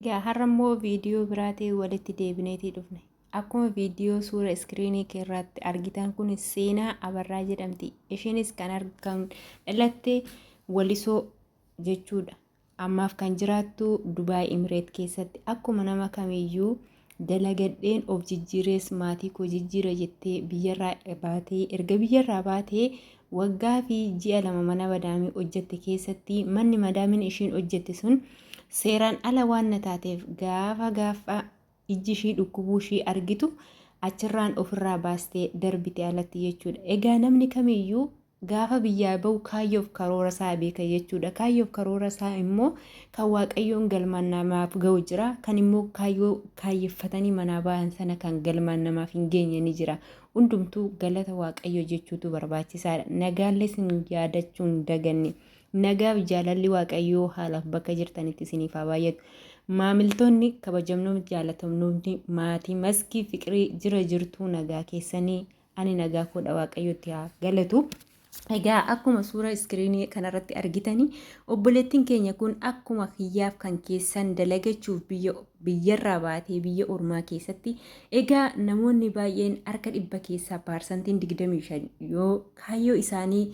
Egaa har'a immoo viidiyoo biraatiin walitti deebineetii dhufne. Akkuma viidiyoo suura iskiriinii kee irratti argitan kun seenaa Abarraa jedhamti. Isheenis kan argan dhalatte Walisoo jechuudha. Ammaaf kan jiraattu Dubaay Imireet keessatti akkuma nama kamiyyuu dalagadheen of jijjiirees maatii koo jijjiira jettee biyyarraa baatee erga biyyarraa baatee waggaa fi ji'a lama mana madaamii hojjette keessatti manni madaamiin ishiin hojjette sun seeraan ala waan na taateef gaafa gaafa ijji ishii dhukkubuu ishii argitu achirraan ofirraa baastee darbite alatti jechuudha. Egaa namni kamiyyuu Gaafa biyyaa bahu kaayyoof karoora isaa beeka jechuudha. Kaayyoof karoora isaa immoo kan Waaqayyoon galmaan namaaf gahu jira. Kan immoo kaayyoo kaayyeffatanii manaa bahan sana kan galmaan namaaf hin geenye ni jira. Hundumtuu galata Waaqayyoo jechuutu barbaachisaadha. Nagaallee isin yaadachuu hin daganne. Nagaaf jaalalli Waaqayyoo haalaaf bakka jirtanitti isiniif haa baay'atu. Maamiltoonni kabajamnoom jaalatamnoomni maatii maskii fiqirii jira jirtuu nagaa keessanii ani nagaa koodha waaqayyotti haa galatu. Egaa akkuma suura iskiriinii kanarratti argitanii obboleettiin keenya kun akkuma kiyyaaf kan keessan dalagachuuf biyya biyyarraa baatee biyya ormaa keessatti egaa namoonni baay'een harka dhibba keessaa paarsantiin 25 yoo kaayyoo isaanii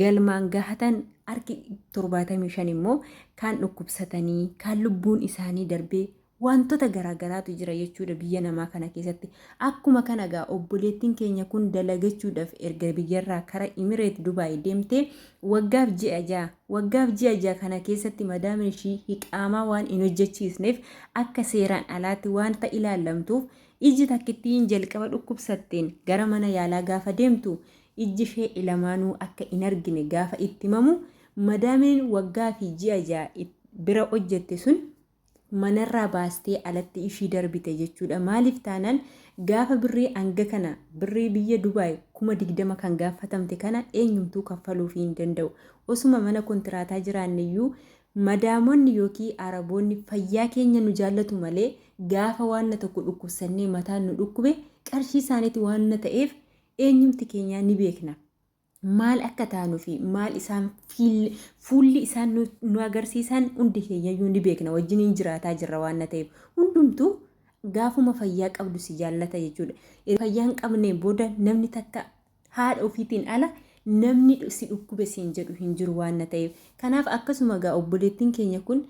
galmaan gahatan harki 75 immoo kaan dhukkubsatanii, kaan lubbuun isaanii darbee waantota garaa garaatu jira jechuudha biyya namaa kana keessatti. Akkuma kana egaa obboleettiin keenya kun dalagachuudhaaf erga biyyarraa kara Imireet Dubaay deemtee waggaaf ji'a ja'a. Waggaaf ji'a ja'a kana keessatti madaamni ishii hiqaamaa waan hin hojjechiisneef akka seeraan alaatti waanta ilaallamtuuf iji takkittiin jalqaba dhukkubsatteen gara mana yaalaa gaafa deemtu Ijji ishee ilamaanuu akka hin argine gaafa itti himamu madaamiin waggaa fi ji'a ja'a it, bira hojjette sun manarraa baastee alatti ishii darbite jechuudha. Maaliif taanaan gaafa birrii hanga kana birrii biyya Dubaay 20,000 kan gaaffatamte kana eenyumtuu kaffaluufii hin danda'u. Osuma mana kontiraataa jiraanneyyuu madaamonni yookiin Araboonni fayyaa keenya nu jaallatu malee gaafa waanna tokko dhukkubsannee mataan nu dhukkube qarshii isaaniitu waanna ta'eef Eenyumti keenyaa ni beekna. Maal akka taanu fi maal isaan fiil- fuulli isaan nu, nu agarsiisan hundi keenyayyuu ni beekna. Wajjiniin jiraataa jirra waan na ta'eef. Hundumtuu gaafuma fayyaa qabdu si jaallata jechuudha. Erga fayyaa hin qabneen booda namni takka haadha ofiitiin ala namni dhu- si dhukkube siin jedhu hin jiru waan na ta'eef. Kanaaf akkasuma gaa obboleettiin keenya kun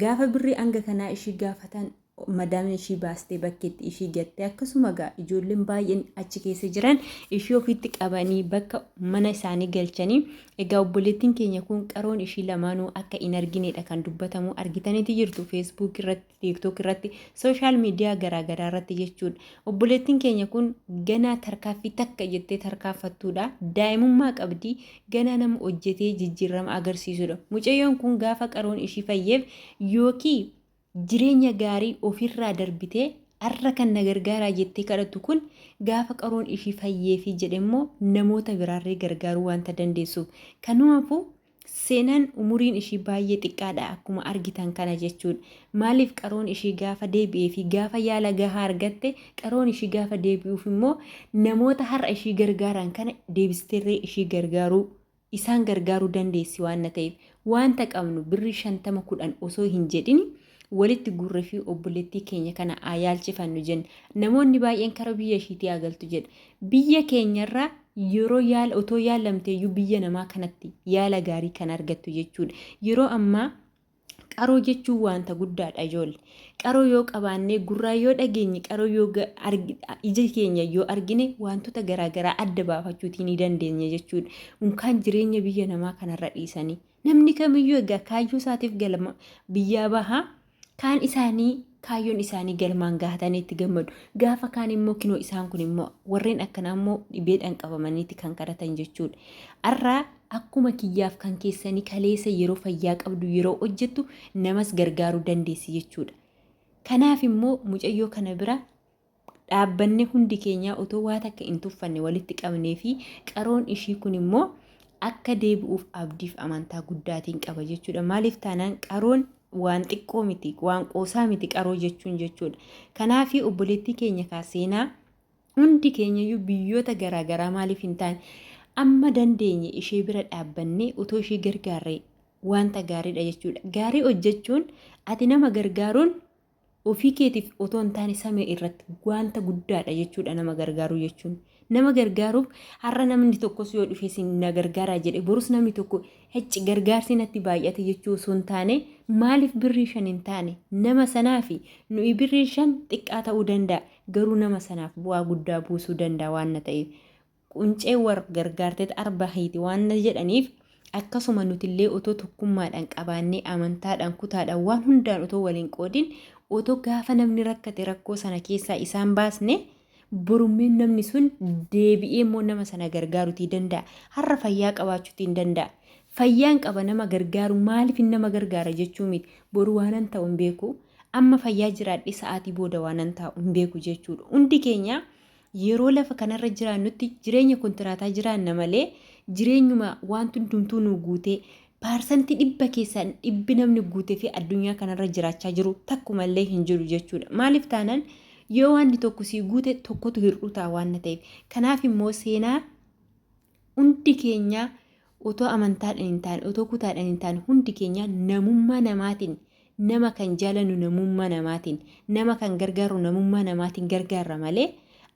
Gaafa birrii hanga kanaa ishii gaafatan madaamni ishii baastee bakkeetti ishii gatte akkasuma gaa ijoolleen baay'een achi keessa jiran ishii ofiitti qabanii bakka mana isaanii galchanii egaa obboleettiin keenya kun qaroon ishii lamaanuu akka hin argineedha kan dubbatamu argitaniiti jirtu feesbuuk irratti tiiktook irratti sooshaal miidiyaa garaagaraa irratti jechuudha obboleettiin keenya kun ganaa tarkaaffii takka jettee tarkaaffattuudha daa'imummaa qabdi ganaa nama hojjetee jijjiirrama agarsiisudha. Mucayyoon kun gaafa qaroon ishii fayyeef yookii jireenya gaarii ofirraa darbitee arra kan na gargaaraa jettee kadhattu kun gaafa qaroon ishii fayyeefi jedhemmoo namoota biraarree gargaaruu waanta dandeessuuf. Kanumaafuu seenaan umuriin ishii baay'ee xiqqaadha akkuma argitan kana jechuudha. Maaliif qaroon ishii gaafa deebi'ee fi gaafa yaala gahaa argatte qaroon ishii gaafa deebi'uuf immoo namoota har'a ishii gargaaraan kana deebisteerree ishii gargaaruu isaan gargaaruu dandeessi waanna ta'eef waanta qabnu birrii shantama kudhan osoo hin jedhini walitti guurre fi obboleettii keenya kana haa yaalchifannu jenna namoonni baay'een kara biyya ishiitii haa galtu jedha biyya keenyarraa yeroo yaala otoo yaalamteeyyuu biyya namaa kanatti yaala gaarii kan argattu jechuudha yeroo ammaa Qaroo jechuun waanta guddaadha ijoolle. Qaroo yoo qabaannee, gurraa yoo dhageenye, qaroo yoo ija keenya yoo argine waantota garaagaraa adda baafachuutii ni dandeenya jechuudha. Unkaan jireenya biyya namaa kanarra dhiisanii. Namni kamiyyuu egaa kaayyoo isaatiif galma biyyaa baha. Kaan isaanii kaayyoon isaanii galmaan gahatanii itti gammadu. Gaafa kaan immoo kinoo isaan kun immoo warreen akkanaa immoo dhibeedhaan qabamaniiti kan kadhatan jechuudha. Har'aa Akkuma kiyyaaf kan keessanii kaleessa yeroo fayyaa qabdu yeroo hojjettu namas gargaaruu dandeessi jechuudha. Kanaaf immoo mucayyoo kana bira dhaabbanne hundi keenyaa otoo waa takka hin tuffanne walitti qabnee fi qaroon ishii kun immoo akka deebi'uuf abdiif amantaa guddaatiin qaba jechuudha. Maaliif taanaan qaroon waan xiqqoo miti, waan qoosaa miti qaroo jechuun jechuudha. Kanaaf obboleettii keenya kaa seenaa Hundi keenyayyuu biyyoota garaa garaa maaliif hin taane amma dandeenye ishee bira dhaabbannee otoo ishee gargaarree wanta gaariidha jechuudha. Gaarii hojjechuun ati nama gargaaruun ofii keetiif otoo hin taane samii irratti wanta guddaadha jechuudha nama gargaaruu jechuun. Nama gargaaruuf har'a namni tokkos yoo dhufee sin na gargaaraa jedhe borus namni tokko hecci gargaarsi natti baay'ate jechuu osoo hin taane maaliif birrii shan hin taane nama sanaa fi nuyi birrii shan xiqqaa ta'uu danda'a. garuu nama sanaaf bu'aa guddaa buusuu danda'a waanna ta'eef quncee war gargaarteet arba hiiti waanna jedhaniif akkasuma nutillee otoo tokkummaadhaan qabaannee amantaadhaan kutaadhaan waan hundaan otoo waliin qoodin otoo gaafa namni rakkate rakkoo sana keessaa isaan baasne borummiin namni sun deebi'ee immoo nama sana gargaarutii danda'a har'a fayyaa qabaachuutiin danda'a Fayyaan qaba nama gargaaru maalifin nama gargaara jechuu miti. Boru waanan ta'u hin beeku. Amma fayyaa jiraadhee sa'aatii booda waanan taa'u hin beeku jechuudha. Hundi keenya yeroo lafa kanarra jiraannutti jireenya kontiraataa jiraanna malee jireenyuma wanti hundumtuu nuu guutee paarsantii dhibba keessaa dhibbi namni guutee fi addunyaa kanarra jiraachaa jiru takkumallee hin jiru jechuudha. Maaliif taanaan yoo waanti tokko sii guute tokkotu hir'uu ta'a waan ta'eef. Kanaaf immoo seenaa Hundi keenya otoo amantaadhaan hin taane, otoo kutaadhaan hin taane hundi keenya namummaa namaatiin nama kan jaalannu namummaa namaatiin, nama kan gargaarru namummaa namaatiin gargaarra malee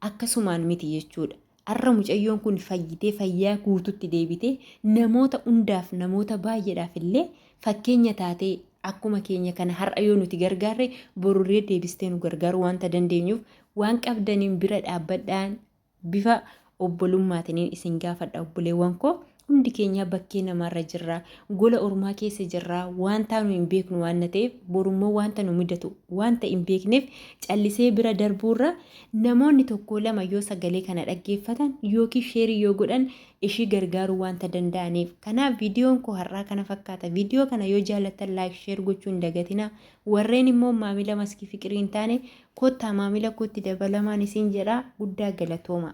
akkasumaan miti jechuudha. Har'a mucayyoon kun fayyitee fayyaa guututti deebitee namoota hundaaf namoota baay'eedhaaf illee fakkeenya taatee akkuma keenya kana har'a yoo nuti gargaarre borurree deebistee nu gargaaruu wanta dandeenyuuf waan qabdaniin bira dhaabbadhaan Bifa obbolummaatiniin isin gaafadha obboleewwan koo. Hundi keenyaa bakkee namaarra jirra. Gola ormaa keessa jirra. Waan taanu hin beeknu waanna ta'eef borummoo waanta nu mudatu waanta hin beekneef callisee bira darbuurra namoonni tokkoo lama yoo sagalee kana dhaggeeffatan yookiin sheerii yoo godhan ishii gargaaruu waanta danda'aniif. Kanaaf viidiyoon koo har'aa kana fakkaata. Viidiyoo kana yoo jaallattan laayik sheer gochuu hin dagatinaa. Warreen immoo maamila maskii fiqirii hin taane kottaa maamila kootti dabalamaan isiin jedha guddaa galatoomaa.